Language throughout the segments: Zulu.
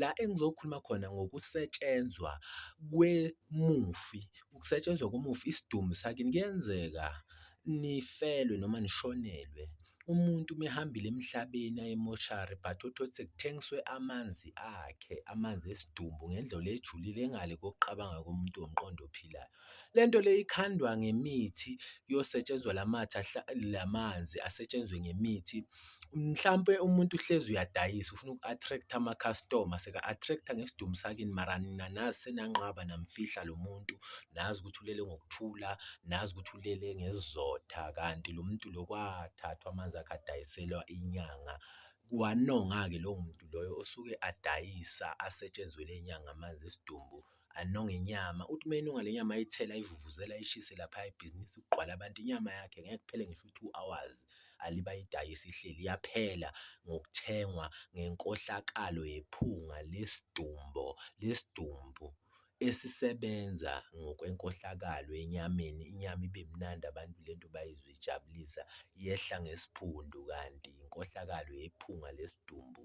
La engizokhuluma khona ngokusetshenzwa kwemufi, ukusetshenzwa komufi isidumbu sakini kuyenzeka nifelwe noma nishonelwe umuntu uma ehambile emhlabeni aye emoshari but uthole ukuthi sekuthengiswe amanzi akhe, amanzi esidumbu ngendlela ejulile ngale kokuqabanga komuntu womqondo ophilayo. Le nto le ikhandwa ngemithi kuyosetshenzwa la mathe la manzi asetshenzwe ngemithi, mhlampe umuntu uhlezi uyadayisa ufuna uku-attract-a amakhastoma seka-attract-a ngesidumbu sakini mara nina nazi senanqaba namfihla lo muntu, nazi ukuthi ulele ngokuthula, nazi ukuthi ulele ngesizotha kanti lo muntu lo kwathathwa amanzi akhe adayiselwa inyanga. Wanonga-ke lowo muntu loyo osuke adayisa asetshenzelwe inyanga amanzi esidumbu. anonge inyama. Uthi uma enonga le nyama ayithele ayivuvuzele ayishise laphaya ibhizinisi kugqwale abantu, inyama yakhe ngeke kuphele ngisho u-two hours alibe ayidayisa ihleli, iyaphela ngokuthengwa ngenkohlakalo yephunga lesidumbu lesidumbu esisebenza ngokwenkohlakalo enyameni, inyama ibe mnandi abantu le nto bayizwe ijabulisa, yehla ngesiphundu kanti inkohlakalo yephunga lesidumbu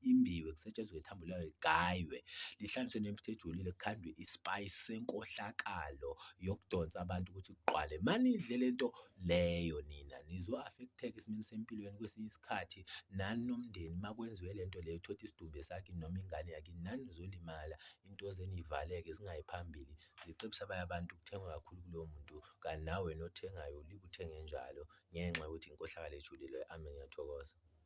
imbiwe, kusetshenzwe ithambo layo ligaywe, lihlanganiswe nemputhu ejulile, kukhandwe isipayisi senkohlakalo yokudonsa abantu ukuthi kuqwale. Uma nidle le nto leyo nina nizo-affecteka esimeni sempilo yenu kwesinye isikhathi, nani nomndeni uma kwenziwe le nto leyo thothi isidumbu esakini noma ingane yakini, nani nizolimala, into zenu y'valeke zingayi phambili. Ngicebisa abanye abantu kuthengwe kakhulu kulowo muntu kanti nawe wena othengayo ulike uthenge njalo ngenxa yokuthi inkohlakalo ejulile. Amen, ngiyathokoza.